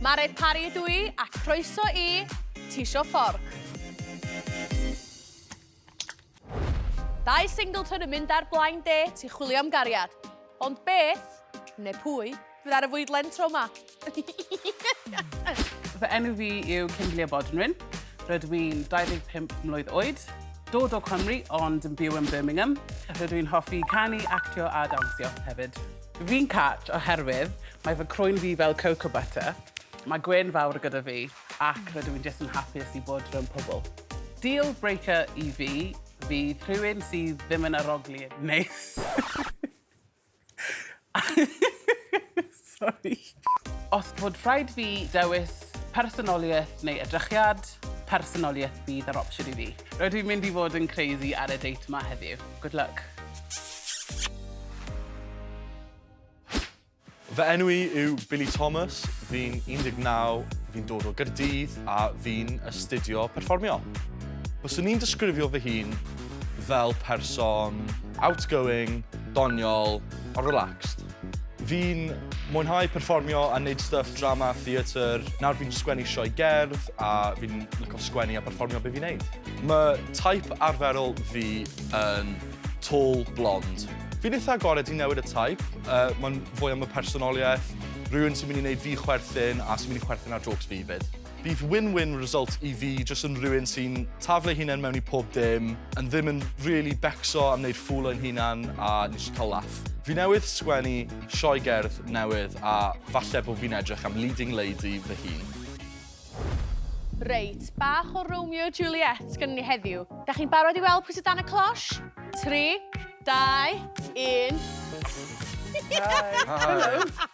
Mare Pari ydw i, a croeso i Tisio Fforc. Dau Singleton yn mynd ar Blaen De, ti'n chwilio am gariad. Ond beth, neu pwy, fydd ar y fwydlen tro ma? Fy enw fi yw Kimberley Bodnwyn. Rydw i'n 25 mlwydd oed, dod o Cymru ond yn byw yn Birmingham. Rydw i'n hoffi canu, actio a dawnsio hefyd. Fi'n cat oherwydd mae fy crwyn fi fel cocoa butter, mae gwên fawr gyda fi ac rydw i'n jyst yn hapus i bod rownd pobl. Deal breaker i fi fydd rhywun sydd ddim yn arogli yn neis. Sori. Os bod rhaid fi dewis personoliaeth neu edrychiad, personoliaeth fydd yr opsiwn i fi. Rydw i'n mynd i fod yn crazy ar y date 'ma heddiw. Good luck. Fy enw i yw Billy Thomas, fi'n 19, fi'n dod o Gaerdydd a fi'n astudio perfformio. Byswn i'n disgrifio fy hun fel person outgoing, doniol a relaxed. Fi'n mwynhau perfformio a wneud stuff drama a theatr. Nawr fi'n sgwennu sioe gerdd a fi'n lico sgwennu a perfformio be fi'n neud. Mae taip arferol fi yn tall blond. Fi'n eitha agored i newid y taip, uh, mae'n fwy am y personoliaeth, rhywun sy'n mynd i wneud fi chwerthin a sy'n mynd i chwerthin ar jokes fi 'fyd. Bydd win-win result i fi jyst yn rhywun sy'n taflu ei hunain mewn i pob dim, yn ddim yn rili becso am wneud ffŵl o'n hunan a yn jyst cael laff. Fi newydd sgwennu sioe gerdd newydd a falle bod fi'n edrych am leading lady fy hun. Reit, bach o Romeo a Juliet gynnon ni heddiw. Dach chi'n barod i weld pwy sy dan y closh? Tri, dau, un. Hi! Hi! Helo!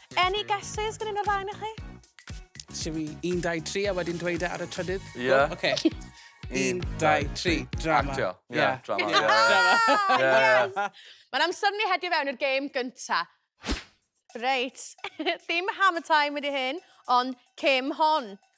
Any guesses gan un o'r ddau o'ch chi? Siw i 1, 2, 3 a wedyn dweud e ar y trydydd? Ie. Yeah. Oce. Okay. 1, 2, 3, drama. Actio. Ie, yeah, yeah. drama. Yeah. drama. Yeah. yeah. Mae'n amser ni hedio fewn i'r gêm gynta. Reit, ddim hammer time wedi hyn, ond cym hon.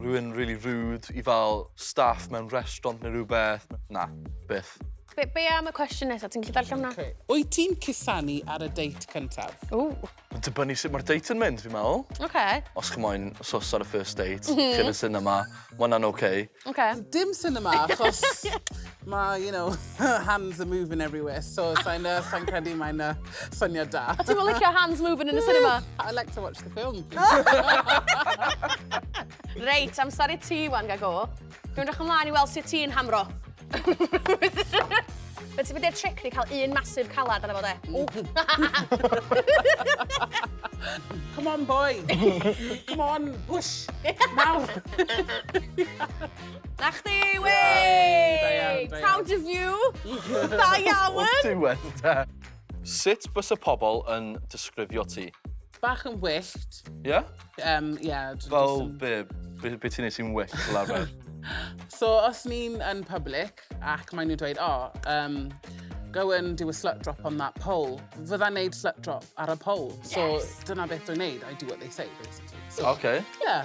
Rwy'n rili rude i fel staff mewn restaurant neu rhywbeth. Na, byth. Be, be am y cwestiwn nesaf? Ti'n gallu darllen hwnna? Okay. Wyt ti'n cusanu ar y date cyntaf? Ww. Mae'n dibynnu sut mae'r date yn mynd, fi'n meddwl. Okay. Os chi moyn sos ar y first date, mm -hmm. chi'n y cinema, mae hwnna'n oce. Okay. Okay. Dim cinema, achos... Mae, you know, her hands are moving everywhere, so sa'n uh, sa credu mae'n uh, syniad da. A ti'n licio hands moving yn y cinema? I like to watch the film. Reit, amser i ti, wan, gago. Dwi'n rach ymlaen i weld sut ti'n hamro. Fe ti'n mynd i'r tric ni cael un masif calad yna fo de. Come on, boy. Come on, push. Nawr. Na chdi, wey! Proud of you! Da iawn! O'r diwedd, da. Sut bys y pobl yn disgrifio ti? Bach yn wyllt. Ie? Um, yeah, Fel be, be, be ti'n ei sy'n wyllt, laffer? so, os ni'n yn public ac maen nhw'n dweud, oh, um, go and do a slut drop on that pole. Fydda'n neud slut drop ar y pole. So, yes. dyna beth dwi'n neud. I do what they say, basically. So, okay. Yeah.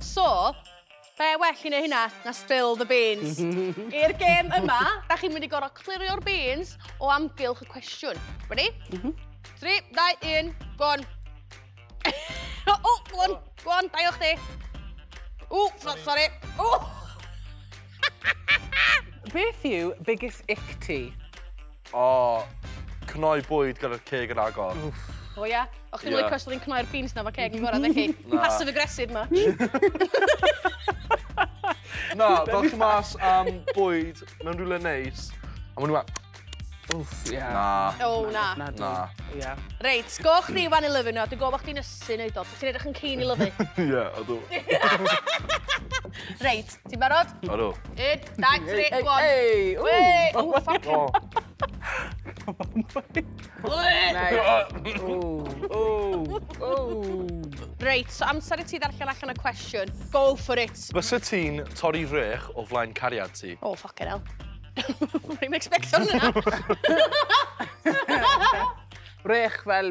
So, be well i neu hynna na spill the beans. I'r gêm yma, da chi'n mynd i gorfod clirio'r beans o amgylch y cwestiwn. Ready? Mhm. 3, 2, 1, go on. o, o, go on, go on, da i o chdi. O, sorry. sorry. O! Beth yw biggest ick ti? O, cnoi bwyd gyda'r ceg yn agor. Wff. O ia? O chdi'n licio os oedd hi'n cnoi'r beans na fo ceg yn gorau, dech chi? Passive aggressive ma. Na, fel chi mas am bwyd mewn rhywle neis, a maen nhw a... Wff, ie. Na. O, na. Na. Na. Ia. Reit, go chdi fan i lyfu nhw, dwi'n gofod chdi'n ysu neud o, ti'n edrych yn cyn i lyfu. Ie, ydw. Reit, Ti'n barod? Odw. Un, dau, tri, gwan. Ei! Ei! O, ffac! O. Reit, so amser i ti ddarllen allan y cwestiwn. Go for it. Fysa ti'n torri rech o flaen cariad ti? O, oh, ffac hell. Rwy'n expecto hwnna. Rech fel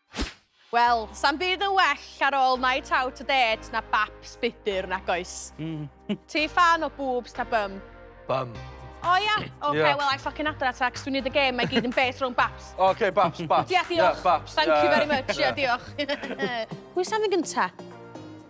Wel, sa'm byd yn well ar ôl night out a dêt na baps budr, nag oes? Mm. Ti ffan o boobs ta bum? Bum. O ia? Oce, Ie. wel, I ffocin adra ta, cos dwi'n neud y gêm, mae gyd yn based rhwng baps. Oce, baps, baps. Ia, diolch. Ie, baps. Thank you very much, ia, diolch. Pwy sy'n mynd gynta?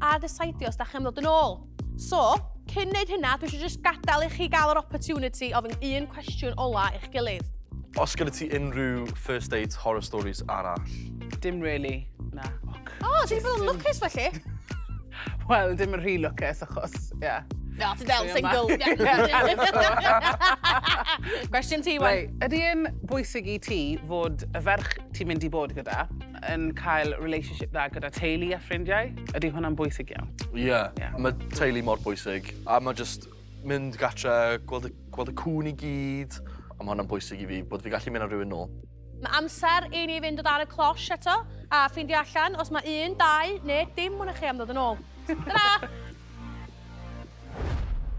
arall a desidio os da chi'n dod yn ôl. So, cyn neud hynna, dwi eisiau just gadael i chi gael yr opportunity ofyn un cwestiwn ola i'ch gilydd. Os gyda ti unrhyw first date horror stories arall? Dim really, na. O, oh, ti'n bod yn lwcus felly? Wel, dim yn rhy lwcus achos, ie. Yeah. No, ti'n del single. Cwestiwn ti, wen. Ydy yn bwysig i ti fod y ferch ti'n mynd i bod gyda yn cael relationship dda gyda teulu a ffrindiau, ydy hwnna'n bwysig iawn. Ie, yeah. yeah. mae teulu mor bwysig. A mae just mynd gatre, gweld y, gweld y cwn i gyd, a mae hwnna'n bwysig i fi, bod fi gallu mynd â rhywun nôl. Mae amser i ni fynd o dan y closh eto, a ffeindio allan os mae un, dau, neu dim mwyn chi am ddod yn ôl. Ta-ra!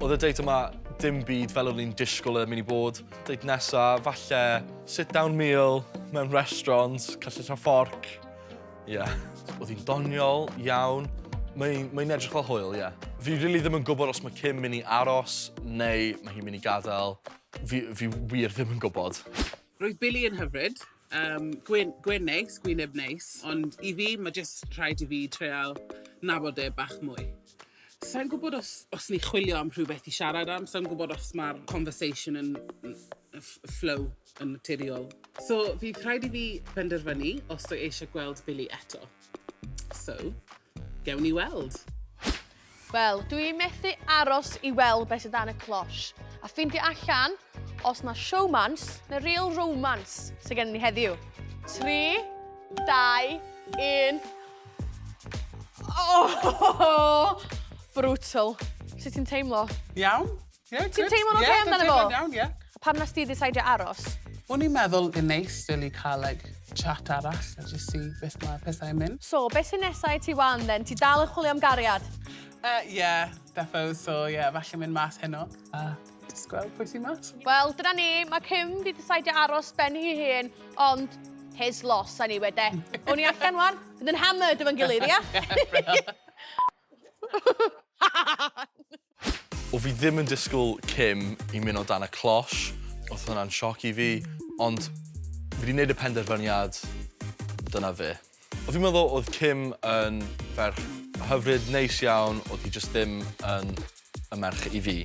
Oedd y date yma dim byd fel o'n i'n disgwyl yn mynd i bod. Date nesa, falle sit-down meal mewn restaurant, castell a fforc. Ie. Yeah. Oedd hi'n doniol iawn. Mae'n mae edrych fel hwyl, ie. Yeah. Fi rili really ddim yn gwybod os mae Kim mynd i aros neu mae hi'n mynd i gadael. Fi, fi wir ddim yn gwybod. Roedd Billy yn hyfryd. Yym, gwên, gwên neis, gwyneb neis, ond i fi, mae jyst rhaid i fi treial nabod e bach mwy. Sa i'n gwybod os os ni'n chwilio am rhywbeth i siarad am, sa i'n gwybod os mae'r conversation yn ff- flow yn naturiol. So, fydd rhaid i fi benderfynu os dw i eisiau gweld Billy eto. So, gewn ni weld. Wel, dw i methu aros i weld beth sydd dan y cloche, a ffeindio allan os mae showmance neu real romance sydd gen ni heddiw. 3, 2, 1... Oh! Brutal. Sut ti'n teimlo? Iawn. Ie, Ti'n teimlo'n oce amdano fo? Ie, dwi'n teimlo'n iawn, ie. Pam nes ti ddisaidio aros? O'n i'n meddwl yn neis really cael like, chat arall a just see beth mae pethau'n mynd. So, beth sy'n nesau i ti wan then? Ti dal yn chwilio am gariad? Ie, uh, yeah, defo, so ie, yeah, falle mynd mas heno. A uh, just gweld pwy sy'n mas. Wel, dyna ni, mae Kim di disaidio aros ben hi hun, ond his loss, a ni wede. O'n i allan wan, bydd yn hammered efo'n gilydd, ia? O fi ddim yn disgwyl Kim i mynd o dan y closh, oedd hwnna'n sioc i fi, ond fi wedi gwneud y penderfyniad, dyna fe. O fi'n meddwl oedd Kim yn ferch hyfryd, neis iawn, oedd hi jyst ddim yn y merch i fi.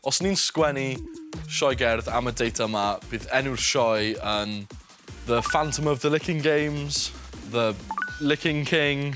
Os ni'n sgwennu sioe gerdd am y date yma, bydd enw'r sioe yn The Phantom of the Licking Games, The Licking King.